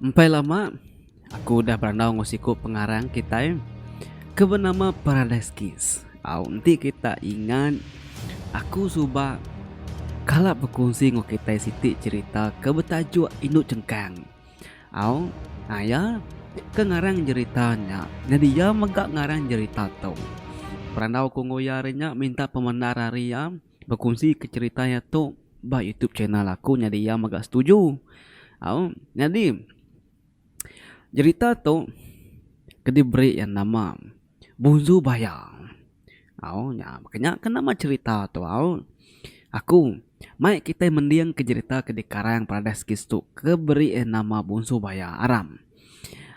Empai lama, aku udah berandau enggau siku pengarang kitai ke benama Paradise Kiss. Au enti kita ingat, aku suba kala bekunsi enggau kitai siti cherita ke betajuk Indu Chengkang. Au, nah iya ke ngarang jerita nya. Nyadi iya mega ngarang jerita tu. Perandau aku enggau iya hari nya minta pemendar ari iya bekunsika cherita iya tu ba youtube channel aku nyadi iya mega setuju. Au, nyadi jerita tu ke diberi iya nama Bunzu Baya. Au, nya baka nya ke nama cherita tu au. Aku, mai kitai mending ke jerita ke dikarang Paradise Kids tu ke beri iya nama Bunsu Baya Aram.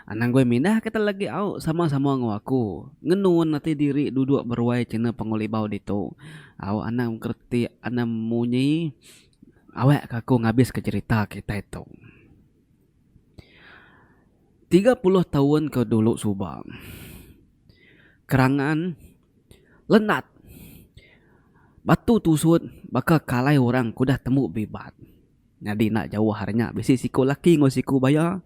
Anang goi mindah ke telegi au sama-sama enggau aku ngenun ati diri duduk beruai cina pengulibau ditu. Au, anang gereti anang munyi awak ke aku ngabiska cherita kitai tu. Tiga puluh taun ke dulu suba, kerangan lenat batu tusut baka kalai orang ke udah tembu bibat. Nyadi enda jauh ari nya bisi siku laki enggau siku baya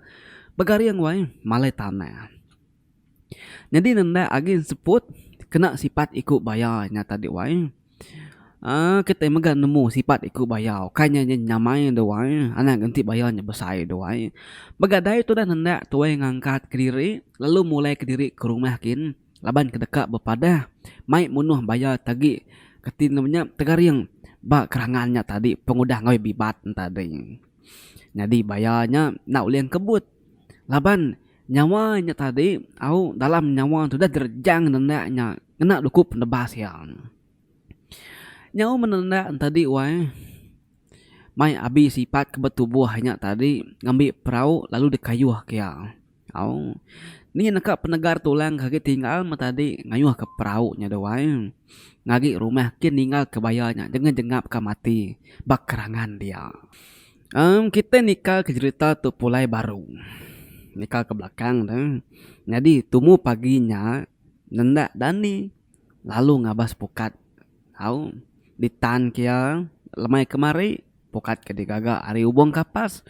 begaring wai malai tanah. Nyadi nenda agi enseput kena sipat iku baya nya tadi wai uhh kitai mega nemu sipat iku baya kai nya inya nyamai da wai anak enti baya nya besai da wai mega dai tudah nenda tuai ngangkat kediri lalu mulai kediri ke rumah kin laban ke deka bepadah mai munuh baya ti agi kati inya nya tegaring ba kerangan nya tadi pengudah ngawi bibat nya tadi nyadi baya nya enda ulih kebut. Laban nyawa nya tadi au dalam nyawa tu udah direjang nenda nya ngena dukup penebas iya. Nyau meh nenda ne tadi wai mai abi sipat ke betubuh nya tadi ngambi perau lalu dikayuh ke iya au ni neka penegar tulang ke agi tinggal meh tadi ngayuh ke perau nya deh wai ngagi rumah kin ninggal ke baya nya jengap jengap ka mati ba kerangan dia. Em kita nika ke jerita tu pulai baru nika ke belakang ne nyadi tumu pagi nya nenda dani lalu ngabas pukat au ditan ke iya lemai kemari pukat ke digaga ari ubong kapas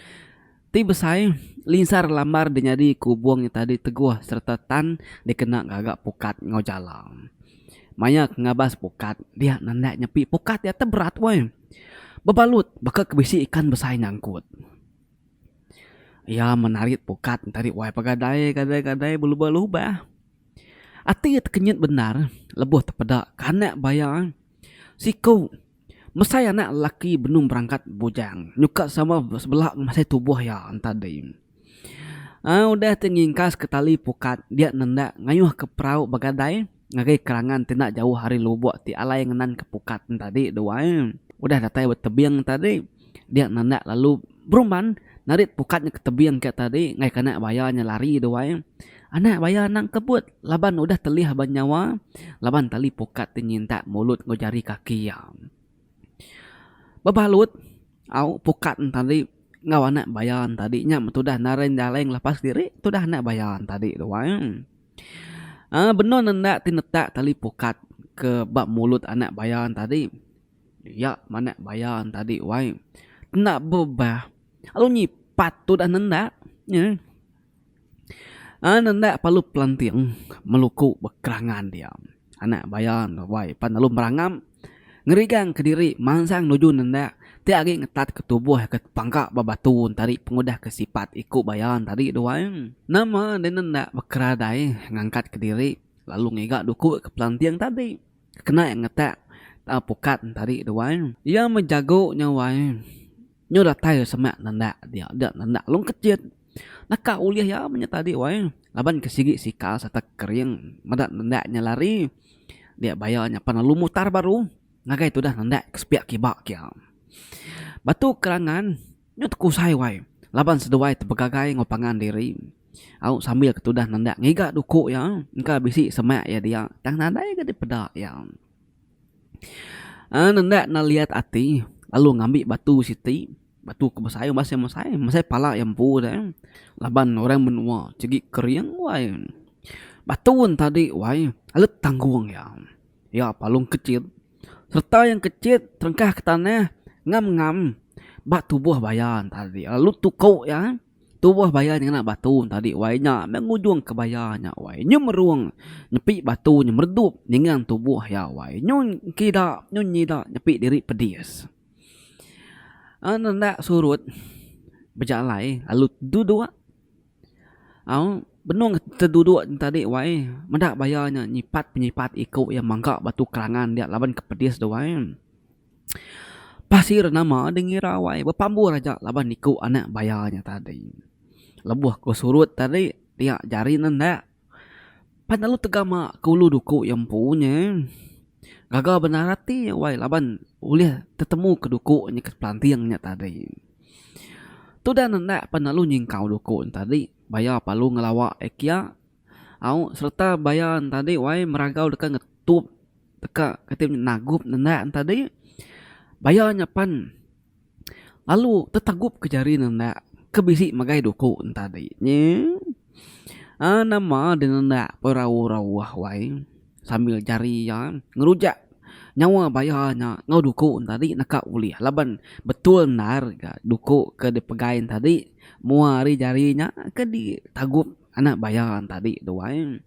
ti besai linsar lambar dinyadi ku ubong nya tadi teguh sereta tan dikena ngaga pukat enggau jala. Maya ke ngabas pukat dia nenda nyepi pukat dia tu berat weh. Bebalut baka ke bisi ikan besai nyangkut. Iya menarit pukat entari wai pegadai gadai gadai belubah lubah. Ati iya tekenyit bendar lebuh tepeda kanek baya siku mesai anak lelaki benung berangkat bujang nyuka sama sebela memasai tubuh iya enta dei. Ai udah ti ngingkaska tali pukat dia nenda ngayuhka perau begadai. Ngagai kerangan ti enda jauh ari lubuk ti alai ngenan ke pukat entadi dua iya. Udah datai ba tebing entadi, dia nendak lalu berumban narit pukat nya ke tebing ke tadi ngagai ke anak baya nya lari dua iya. Anak baya nang kebut laban udah telih ba nyawa laban tali pukat ti nyintak mulut enggau jari kaki iya. Bebalut au pukat ne tadi enggau anak baya ne tadi nya meh tudah naring jaleng lepas diri tudah anak baya ne tadi tu ai. uhh benung ne enda ti netak tali pukat ke ba mulut anak baya ne tadi iya meh anak baya ne tadi wai enda bebah lalu nyipat tudah nenda nyeh. An enda perlu pelanting meluku ba kerangan dia anak baya enggau wai pan lalu merangam ngerigang ke diri mansang nuju nenda ti agi ngetat ke tubuh ke pangka ba batu tadi pengudah ke sipat iku baya tadi tu wai nama ne nenda bekeradai ngangkat ke diri lalu ngiga duku ke pelanting tadi kena ngetak tau pukat tadi tu wai iya meh jago nya wai nyu datai semak nenda dia nenda long kechet. Naka ulih iya menya tadi wai laban ke sigi sikal sereta kering meda nenda nya lari dia baya nyapan lalu mutar baru ngagai tudah nenda ke sepiak kiba ke iya. Batu kerangan nyu tekusai wai laban seduai tepegagai enggau pangan diri au sambil ke tudah nenda ngiga duku iya engka bisi semak iya dia tang nadai ke dipeda iya. Nenda neliat ati lalu ngambi batu siti. Batu ke besai uba seh mesai, mesai pala iya empu deh. Laban orang menua sigi kering wai. Batu entadi wai alut tanggung iya. Iya palung kecit serta yang kecit terengkah ke tanah ngam ngam ba tubuh baya entadi lalu tuku iya eh. Tubuh baya ti ngena batu entadi wai nya meh ngujung ke baya nya wai. Nyu merung nepi batu nya meredup ningang tubuh iya wai. Nyu kida nyu nyida nepi diri pedis. Aun enda surut bejalai lalu duduk aun benung ke duduk tadi wai meda baya nya nyipat penyipat iku iya mangga batu kerangan dia laban ke pedis tu wai pasir nama deh ngira wai bepambur aja laban iku anak baya nya tadi lebuh ku surut tadi dia jari ne enda. Pan lalu tegama ke ulu duku iya empu nya gaga benar ati iya wai laban ulih tetemu ke duku nya ke pelanting nya tadi. Tudan enda pan lalu nyingkau duku nya tadi baya palu ngelawa iya kia au sereta baya nya tadi wai meragau deka ngetup deka kitai nagup nenda nya tadi baya nya pan. Lalu tetagup ke jari ne enda ke bisi magai duku enta adi nye nama deh ne enda berauh-rauh wai sambil jari iya ngerujak nyawa baya nya enggau duku enta adi neka ulih laban betul endar ga duku ke dipegai enta adi mua ari jari nya ke ditagup anak baya enta adi tu wai.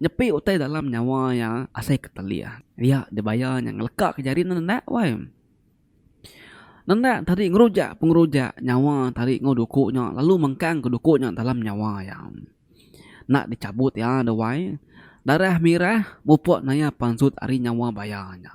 Nyepi utai dalam nyawa iya asai ketelih iya dibaya nya ngeleka ke jari ne enda wai. Nendak tadi ngeruja pengeruja nyawa tadi enggau duku nya lalu mengkang ke duku nya dalam nyawa iya. Enda dichabut iya da wai. Darah mirah mupuk naya pansut ari nyawa baya nya.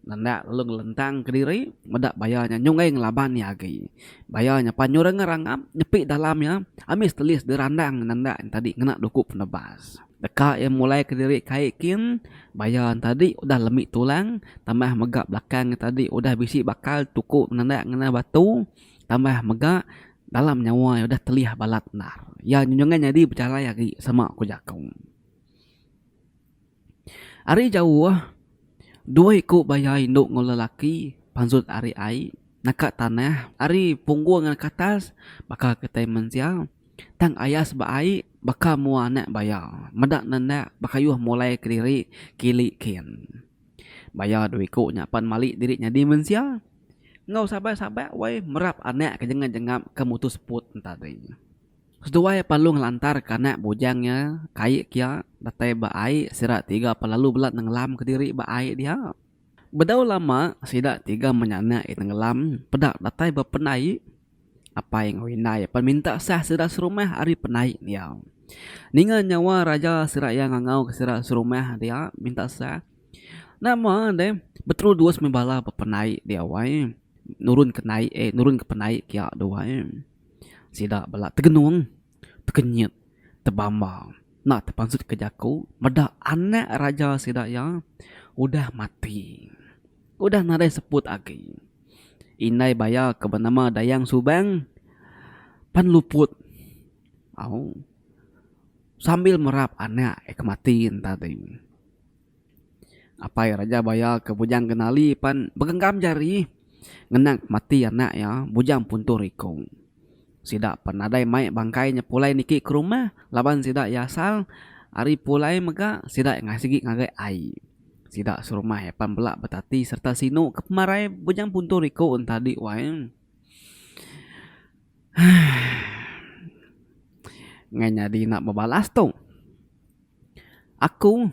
Enda lalu ngelentang ke diri meda baya nya nyunggai ngelaban iya agi. Baya nya pan nyurang ngerangap nyepi dalam iya ambis telis dirandang nenda tadi ngena duku penebas. Deka iya mulai kediri kai kin baya entadi udah lemi tulang tambah mega belakang iya tadi udah bisi bakal tuku nendak ngena batu tambah mega dalam nyawa iya udah telih balat endar. Iya nyungan nyadi pejalai agi sema ku jaku. Ari jauh dua iku baya indu enggau lelaki panjut ari ai. Naka tanah, ari punggung ngan ke atas, baka kitai mensia, tang ayas ba ai, baka mua anak baya, meda nendak bekayuh mulai kediri kili kin. Baya dua iku nya pan mali diri nyadi mensia, enggau sabar sabar wai merap anak ke jengam jengam ke mutu seput enta diri. Seduai Palung ngelantar ke anak bujang nya kai kia datai ba ai sida tiga pelalu bela nenglam kediri ba ai dia. Bedau lama sida tiga menyanak iya tenggelam peda datai ba pendaik apai enggau indai pan minta sah sida serumah ari pendaik dia. Ninga nyawa raja sida iya ngangau ke sida serumah dia minta sah nama deh beteru dus meh bala ba pendaik dia wai nurun ke naik eh nurun ke pendaik kia tu wai sida bela tegenung. tekenyit, tebamba enda tepansut ke jaku meda anak raja sida iya udah mati. Udah nadai seput agi. Indai baya ke benama Dayang Subang pan luput au sambil merap anak iya ke mati yen tadi. Apai Raja Baya ke Bujang Kenali pan begenggam jari ngenang pemati anak iya Bujang Puntor Ikong. Sida pan nadai mai bangkai nya pulai niki ke rumah laban sida iya asal ari pulai mega sida iya sigi ngagai ai. Sida serumah iya pan bela betati sereta sinu ke pemarai Bujang Puntor Ikong enti adi wai. Heh. Ngai nyadi enda bebalas tu. Aku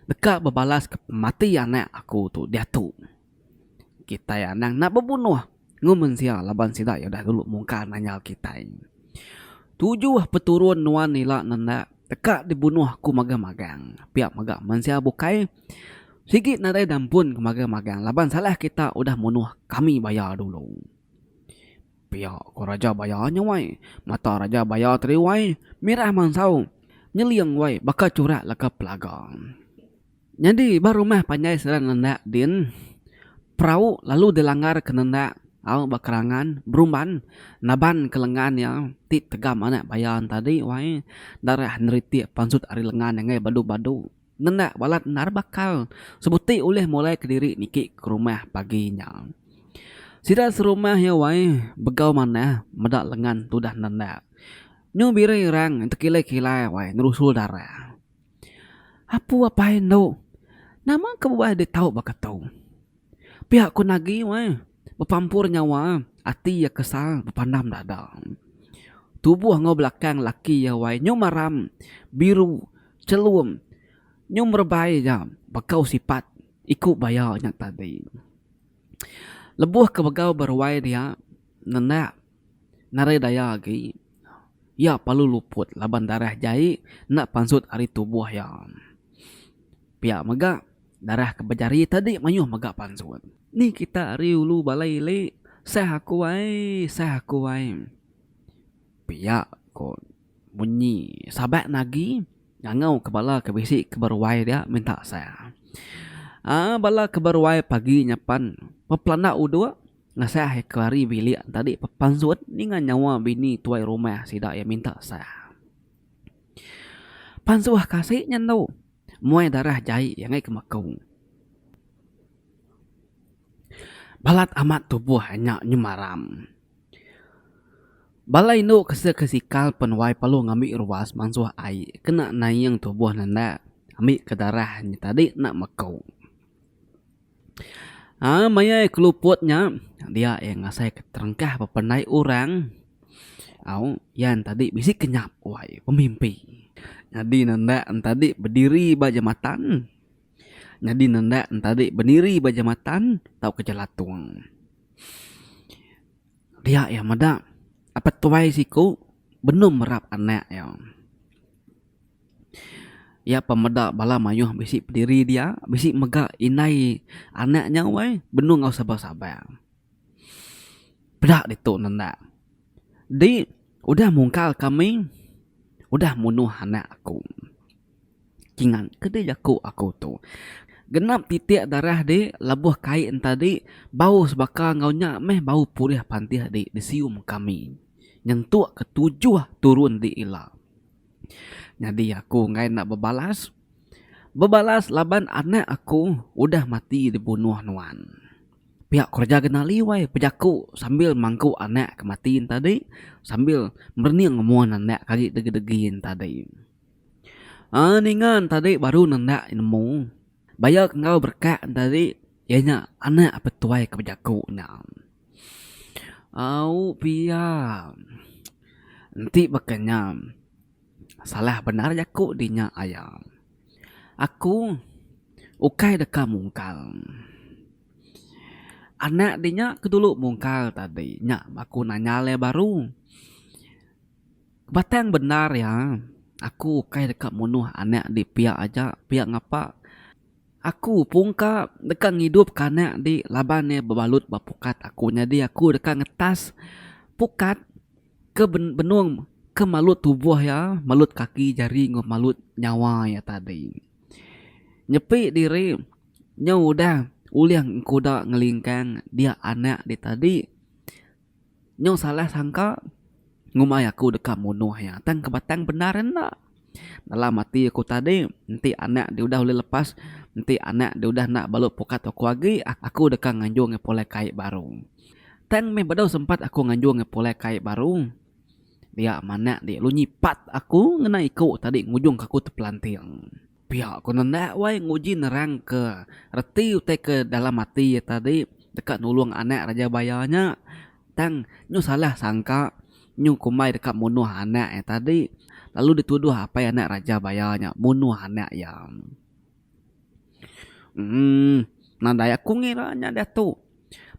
deka bebalaska pemati anak aku tu diatu. Kitai anang enda bebunuh ngemensia laban sida iya udah dulu mungkar nanya kitai. Tujuh peturun nuan ila nenda deka dibunuh aku magang-magang pia mega mensia bukai sigi nadai da ampun ke magang-magang laban salah kita udah munuh kami baya dulu. Pia ko raja baya nya wai. Mata raja baya tadi wai mirah mansau nyeling wai baka churak leka pelaga. Nyadi ba rumah panjai sida nendak din perau lalu dilanggar ke nendak au ba kerangan berumban naban ke lengan iya ti tegam anak baya tadi wai darah neritik pansut ari lengan iya ngai badu-badu. Ngena balat endar bakal sebuti ulih mulai kediri niki ke rumah pagi nya. Sida serumah iya wai begau manah meda lengan tudah nenda. Nyu biri erang tekilai-kilai wai ngerusul dara. Apu apai endu, nama ke bebah dek tau baka tu. Pia ku nagi weh. Bepampur nyawa, ati iya kesal bepandam dada. Tubuh enggau belakang laki iya wai nyum aram, biru, chelum, nyum rebai ja bekau sipat iku baya nya tadi. Lebuh ke begau beruai dia nendak. Ngarai daya agi, iya parlu luput laban darah jai enda pansut ari tubuh iya. Pia mega, darah ke bejari tadi mayuh mega pansut. Ni kita ari ulu balai ili, sah aku ai, sah aku ai. Pia ko munyi Sabak nagi ngangau ke bala ke bisi ke beruai dia minta sah. Aa bala ke beruai pagi nyapan bepelanda uduk. Ngasah eka ari bilik entadi pepansut ninga nyawa bini tuai rumah sida iya minta sah. Pansuh kasik nya endo muai darah jai iya ngaika meku. Balat amat tubuh nya nyemaram. Bala indu kesa ke sikal pen wai perlu ngambi ruas mansuh ai kena naing tubuh nenda ambika darah nya tadi enda meku. Haa mayai keluput nya dia iya ngasai ka terengkah bepandai orang au iya tadi bisi ke nyap wai pemimpi nyadi ne enda tadi bediri ba jematan nyadi ne enda tadi bendiri ba jematan tau ke jelatung dia iya meda apai tuai siku benung merap anak iya. Iya apai meda bala mayuh bisi pendiri dia bisi mega indai anak nya weh benung enggau sabar sabar. Peda ditu ne enda. Di udah mungkal kami udah munuh anak aku. Kingang ke deh jaku aku tu. Genap titik darah di lebuh kai enta di bau sebaka enggau nya meh bau pulih pantih di disium kami nyentuk ke tujuh turun di ila. Nyadi aku enggai enda bebalas. Bebalas laban anak aku udah mati dibunuh nuan. Pia kereja genali wai pejaku sambil mangku anak ke mati nya tadi sambil merening umon anak ke agi degi-degi nya tadi. Aa ninga ne tadi baru ne enda nemu bayar enggau berekak ne tadi iya nya anak petuai ke bejaku nya. Au pia. Enti baka nya salah bendar jaku di nya aya. Aku ukai deka mungkal. Anak di nya ke dulu mungkal tadi nya aku nanyal iya baru. Batang bendar iya aku ukai deka munuh anak di pia aja pia ngapa. Aku pungka deka ngidup ka anak di laban iya bebalut ba pukat aku nyadi aku deka ngetas pukat ke benung ke malut tubuh iya malut kaki jari enggau malut nyawa iya tadi nyepi diri nyau udah ulih engkuda ngelingkang dia anak dia tadi. Nyau salah sangka ngumbai aku deka munuh iya tang ke batang bendar enda. Dalam ati aku tadi enti anak dia udah ulih lepas enti anak dia udah enda balu pukat toko agi aku deka nganjung iya pulai kai baru. Tang meh bedau sempat aku nganjung iya pulai kai baru dia manak dia lalu nyipat aku ngena iku tadi ngujungka aku tepelanting. Pia ku nanda wai nguji nerangka reti utai ke dalam ati iya tadi deka nulung anak Raja Baya nya. Tang nyu salah sangka nyu kumbai deka munuh anak iya tadi lalu dituduh apai anak Raja Baya nya munuh anak iya. Emm nadai aku ngira nya diatu.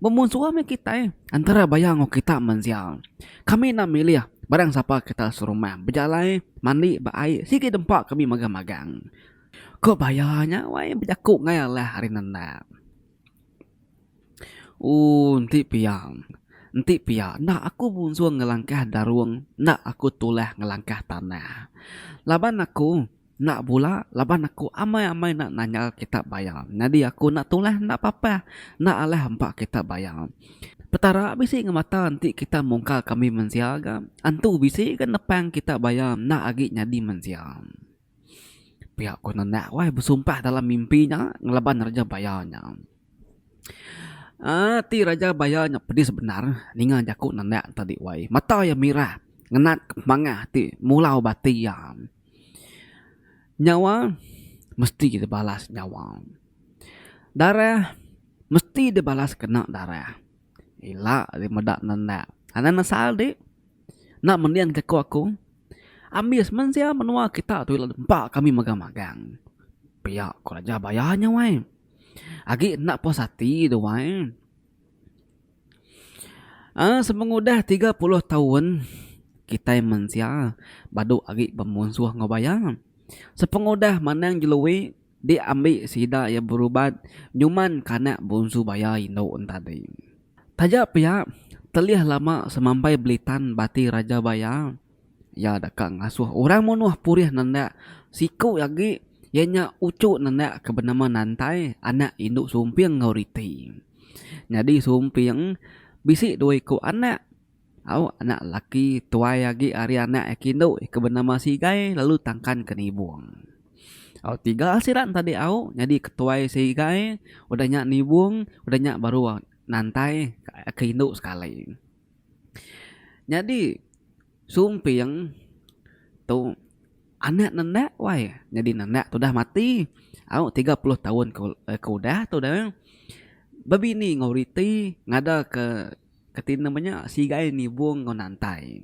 Bemunsua meh kitai entara baya enggau kita mensia. Kami enda milih barang sapa kita serumah, bejalai, mandi ba ai sigi dempa kami magang-magang. Ko baya nya wai bejaku enggau iya lah ari nendak. Ooh enti pia enti pia enda aku munsuh ngelangkah darung enda aku tulah ngelangkah tanah. Laban aku Enda bula laban aku amai-amai enda nanyal kitab bayar. Nyadi aku enda tulah enda papah enda alah empa kitab bayar. Petara bisi ngemata enti kita mungkal kami mensia ga, antu bisi ga nepang kitab bayar enda agi nyadi mensia. Pia ku nenek wai besumpah dalam mimpi nya ngelaban raja bayar nya. Aaa ti raja bayar nya pedis bendar ninga jaku nenek tadi wai. Mata iya mirah ngenat mangah ti mulau bati iya. Nyawa mesti kita balas nyawa. Darah mesti dibalas kena darah. Ila ari meda ne enda. Anang ne asal di enda mending jaku aku ambis meh sia menua kita tu ila nempa kami magang magang. Pia ku raja bayar nya weh. Agi enda puas ati duai. Aa semengudah tiga puluh taun kitai mensia badu agi bemunsuh enggau baya. Sepengudah manang jeloi diambi sida iya berubat nyuman kana bonsu baya indu enta dei. Taja pia telih lama semambai belitan bati raja baya. Iya deka ngasuh orang munuh purih nendak siku agi iya nya uchu nendak ke benema nantai anak indu Sumping enggau Riti. Nyadi Sumping bisi dua iku anak au anak laki tuai agi ari anak iya ke indu ke benema Sigai lalu Tangkan ke Nibong. Au tiga sida enti adi au nyadi ketuai Sigai udah nya Nibong udah nya baru nantai ke indu sekali. Nyadi sumping tu anak nendak wai nyadi nendak tu dah mati au tiga puluh taun ke udah tu dah bebini enggau reti ngada ke reti nama nya sigai nibung enggau nantai.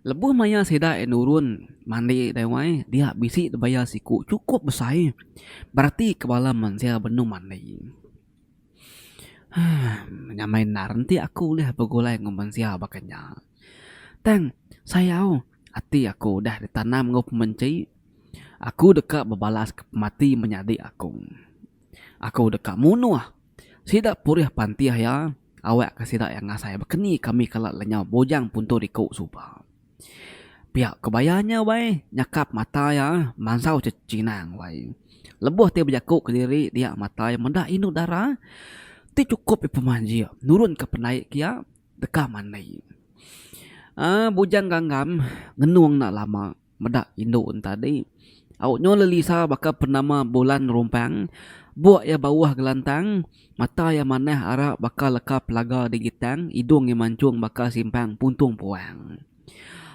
Lebuh maya sida nurun mandi dai wai dia bisi dibayar siku chukup besai bereti ke bala mensia benung mandi. Nyamai enda renti aku ulih begulai enggau mensia baka nya. Tang sayau ati aku udah ditanam enggau pemenchai, aku deka bebalaska pemati menyadi aku. Aku deka munuh sida purih pantih iya awakka sida iya ngasai. Baka ni kami kala lenyau bujang puntung diku suba. Pia kebaya nya wai nyakap mata iya mansau chinang wai. Lebuh ti bejaku kediri dia mata iya meda indu dara ti chukup iya pemanjik nurunka pendai ke iya deka mandai. uhh Bujang Gangam ngenung enda lama meda indu ne tadi au nyu lelisa baka penama Bulan Rumpang buk iya bauh gelantang. Mata iya manah arak baka leka pelaga di gitang, idung iya manchung baka simpang puntung puang.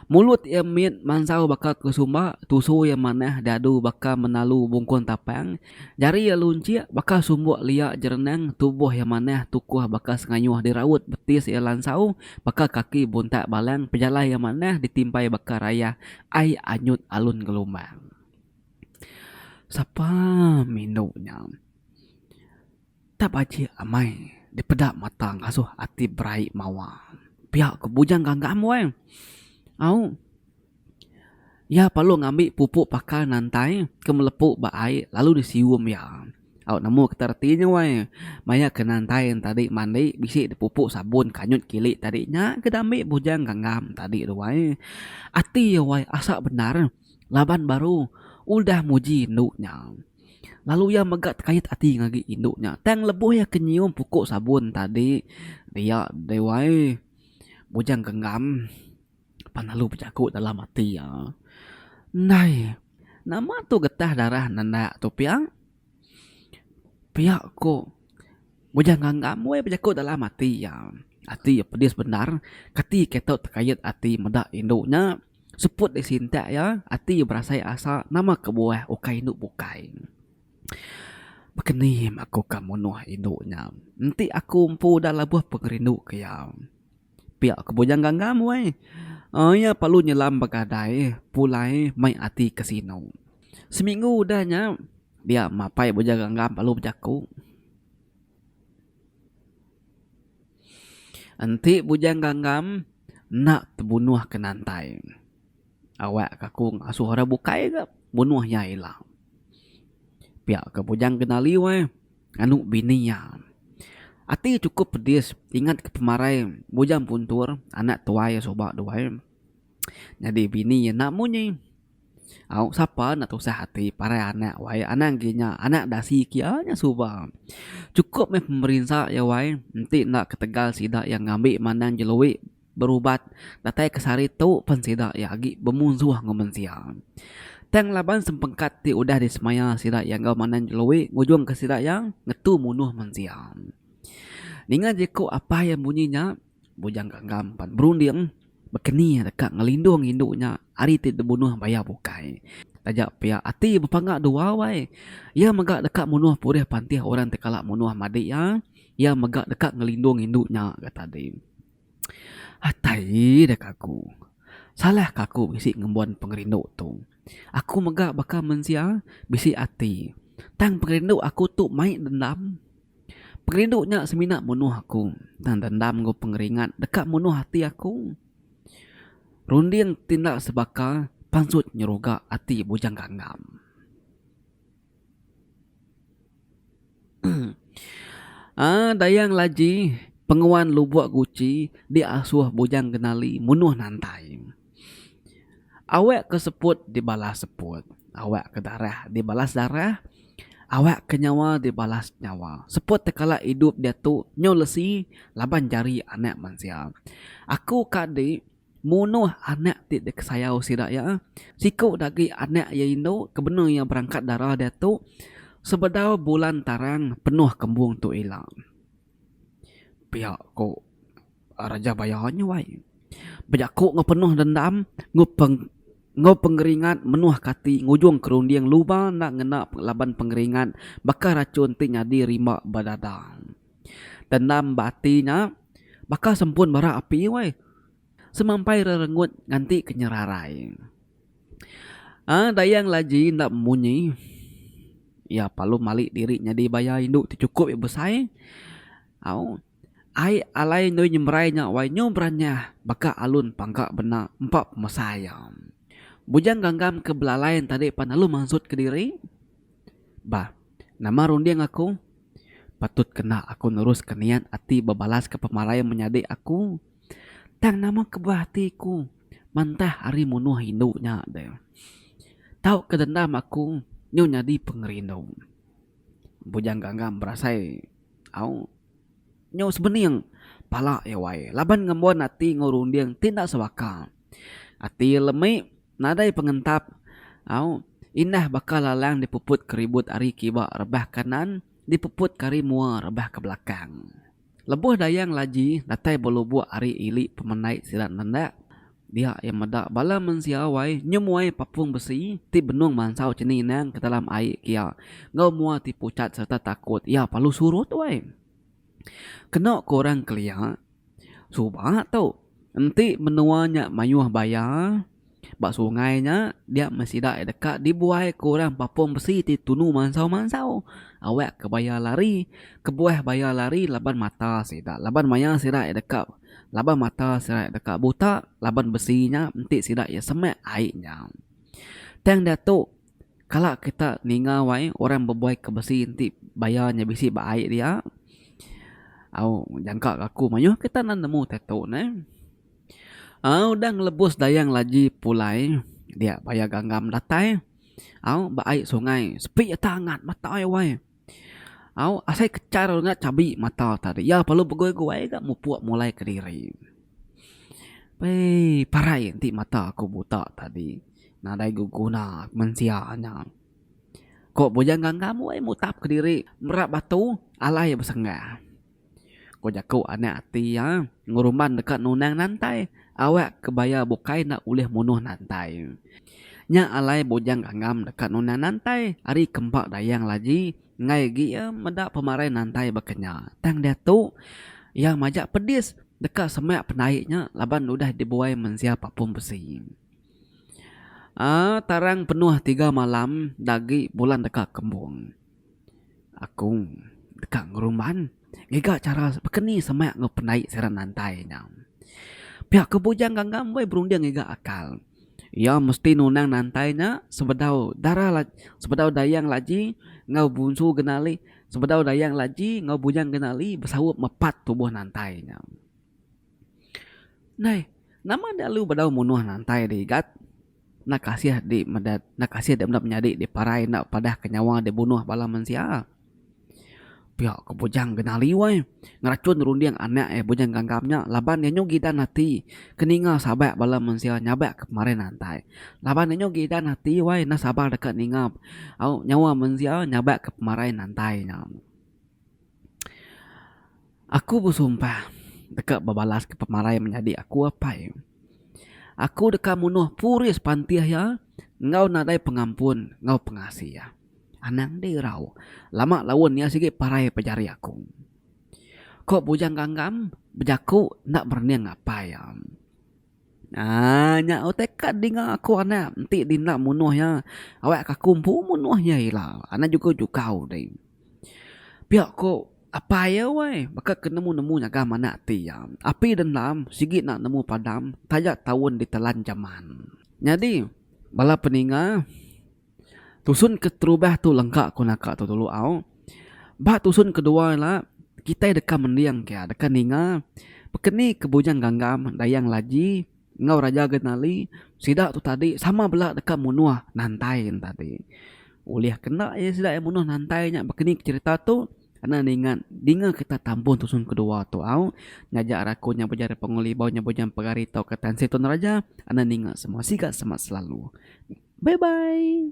Mulut iya mit mansau baka kesumba, tusu iya manah diadu baka menalu bungkun tapang, jari iya lunchik baka sumbuk lia jerenang, tubuh iya manah tukuh baka sengayuh diraut, betis iya lansau baka kaki buntak balang, pejalai iya manah ditimpai baka rayah ai anyut alun gelombang. Sapa mindu nya. Tap aji amai dipeda mata ngasuh ati berai mawa pia ko bujang gagam weh au iya perlu ngambi pupu pakar nantai ke melepu ba ai lalu di sium iya au nemu kita reti nya weh maya ke nantai tadi mandi bisi di pupu sabun kanyut kili tadi nya ke diambi bujang gagam tadi tu weh ati iya weh asak bendar laban baru udah muji anu nya. Lalu iya mega tekait ati ngagi indu nya tang lebuh iya ke nyium puku sabun tadi dia deh wai Bujang Genggam pan lalu bejaku dalam ati iya, Ndai nama tu getah darah nanda tu pia? Pia ko. Mujah nganga muai bejaku dalam ati iya. Ati iya pedis bendar, kati ke tau tekayet ati meda indu nya. Seput deh sintak iya, ati iya berasai asa nama kebuah ukai indu bukai. Bekenim aku ka munuh indu nya. Enti aku empu udah labuh pengerindu ke iya. Pia ke bujang ganggam wai. Iya perlu nyelam begadai pulai mai ati kasino. Seminggu udah nya dia mapai bujang ganggam lalu bejaku. Enti bujang ganggam enda tebunuh ke nantai. Awak ke aku ngasuh orang bukai ga bunuh iya ila. Pia ke bujang kenali wai. nganu bini iya. Ati iya chukup pedis ingatka pemarai Bujang Puntur anak tuai iya suba dua ai. Nyadi bini iya enda munyi. Au sapa enda tusah ati parai anak wai anang agi nya anak dasi kia nya suba. Chukup meh pemerinsa iya wai enti enda ketegal sida iya ngambi mandang jeloi. berubat datai ke sehari tu pen sida iya agi bemunsuh enggau mensia. Tang laban sempengkat ti udah disemaya sida iya enggau Manang Jeloe ngujungka sida iya ngetu munuh mensia. Ninga jeku apah iya munyi nya, Bujang Gagam pan berunding baka ni deka ngelindung indu nya ari ti dibunuh bayau bukai. Taja pia ati bepangga duau ai. Iya mega deka munuh purih pantih orang ti kala munuh Madi iya. Iya mega deka ngelindung indu nya, kata deh. Atai deka aku. Salahka aku bisi ngembuan pengerindu tu. Aku mega baka mensia bisi ati. Tang pengerindu aku tu mai dendam. Pengerindu nya semina munuh aku. Tang dendam enggau pengeringat deka munuh ati aku. Runding ti enda sebaka pansut nyeruga ati bujang ganggam. Dayang Laji penguan Lubok Guchi diasuh Bujang Genali munuh nantai. Awak ke seput dibalas seput, awak ke darah dibalas darah, awak ke nyawa dibalas nyawa. Seput ti kala idup diatu nyau lesi laban jari anak mensia. Aku ka di. Munuh anak ti dikesayau sida iya, siku dagi anak iya indu kebenu iya berangkat dara diatu sebedau bulan tarang penuh kembung tu ila. Pia ku Raja Baya nyuai bejaku enggau penuh dendam enggau pengeringat menuhka ati ngujung ke runding luba enda ngena laban pengeringat baka rachun ti nyadi rimba ba dada. Dendam ba ati nya baka sempun bara api weh. Semampai rerengut nganti ke nyerarai. Aaa Dayang Laji enda munyi. Iya palu mali diri nyadi baya indu ti chukup iya besai. Au ai alai endur nyemrai nya wai nyu beranyah baka alun pangka bena empa pemesai iya. Bujang Ganggam ke belalai enti tadi pan alu mansut kediri. Bah nama runding aku. Patut kena aku neruska niat ati bebalaska pemarai menyadi aku. Tang nama kebah ati aku mantah ari munuh indu nya deh. Tauka dendam aku nyu nyadi pengerindu. Bujang Gangam berasai, Au, nyu sebening pala iya wai laban ngembon ati enggau runding ti enda sebaka. Ati lemi nadai pengentap au indah baka lalang dipuput ke ribut ari kiba rebah kanan dipuput ke ari mua rebah ke belakang. Lebuh Dayang Laji datai belubuk ari ili pemendai sida nendak dia iya meda bala mensia wai nyemuai papung besi ti benung mansau chini inang ke dalam ai kia enggau mua ti puchat sereta takut iya palu surut wai. Keno ku orang kelia. Suba tu, enti menua nya mayuh baya ba sungai nya dia meh sida iya deka dibuai ku orang Papong besi ti tunu mansau-mansau awak ke baya lari kebuah baya lari laban mata sida laban maya sida iya deka laban mata sida iya deka buta laban besi nya enti sida iya semak ai nya. Tang diatu. Kala kita ninga wai orang bebuai ke besi enti baya nya bisi ba ai dia au jangka ke aku mayuh ke kita nemu tattoo ne au udah ngelebus dayang laji pulai dia baya ganggam datai au ba ai sungai sepi ata angat matai wai. Au asai kechar lu nya chabi mata tadi. Iya perlu begoi-goi ga mupuk mulai kediri. Wei parai enti mata aku buta tadi. Nadai beguna mensia nya. Ko bujang ganggang wei mutap kediri mera batu alai besenggah. Ko jaku anak ati iya, ngerumban deka nunang nantai, awak ke baya bukai enda ulih munuh nantai. Nya alai bujang ganggam deka nunang nantai ari kempa dayang laji enggai agi iya meda pemarai nantai baka nya. Tang diatu iya majak pedis deka semak pendai nya laban udah dibuai mensia papung besi. Aa tarang penuh tiga malam enda agi bulan deka kembung. Aku deka ngeruman ngiga chara baka ni semak enggau pendai sirang nantai nya. Pia ku bujang ganggang meh berunding ngiga akal. Iya mesti nunang nantai nya sebedau dara sebedau dayang laji enggau bunsu genali sebedau dayang laji enggau bujang genali besaup mepat tubuh nantai nya. Neh nama enda lalu bedau munuh nantai da igat. Enda kasih di meda enda kasih di meda menyadi di parai enda padah ke nyawa di bunuh bala mensia. Pia ko Bujang Genali weh. Ngerachun runding anak iya Bujang Gangam nya laban iya nyau gidan ati ke ninga sabak bala mensia nyabak ke pemarin antai. Laban iya nyau gidan ati weh enda sabar deka ninga au nyawa mensia nyabak ke pemarin antai nya. Aku besumpah deka bebalaska pemarai menyadi aku apai. Aku deka munuh puris pantih iya enggau nadai pengampun enggau pengasih iya. Anang deh irau. Lama laun iya sigi parai ba jari aku. Ko Bujang Gangam bejaku enda berening apai iya. Aaa nya utai kad dinga aku anak enti dinda munuh iya awak ke aku empu munuh iya ila anak jugau jugau deh pia ko apai iya weh baka ke nemu nemu nyagam anak ti iya api dendam sigi enda nemu padam taja taun ditelan jaman nyadi bala peninga. Tusun keterubah tu lengka ku naka tu dulu au. Ba tusun kedua ila kitai deka mending ke deka ninga pekeni ke Bujang Gangam, Dayang Laji enggau Raja Genali sida tu tadi sama bela deka munuh Nantai nya tadi. Ulih kena iya sida iya munuh Nantai nya pekeni ke cherita tu enda ninga dinga kita tampung tusun kedua tu au. Nyaja raku nya Bujang Repong Ngelibau nya Bujang Pegari tauka Tan Sri Tun Raja enda ninga semua siga semak selalu. Bye bye.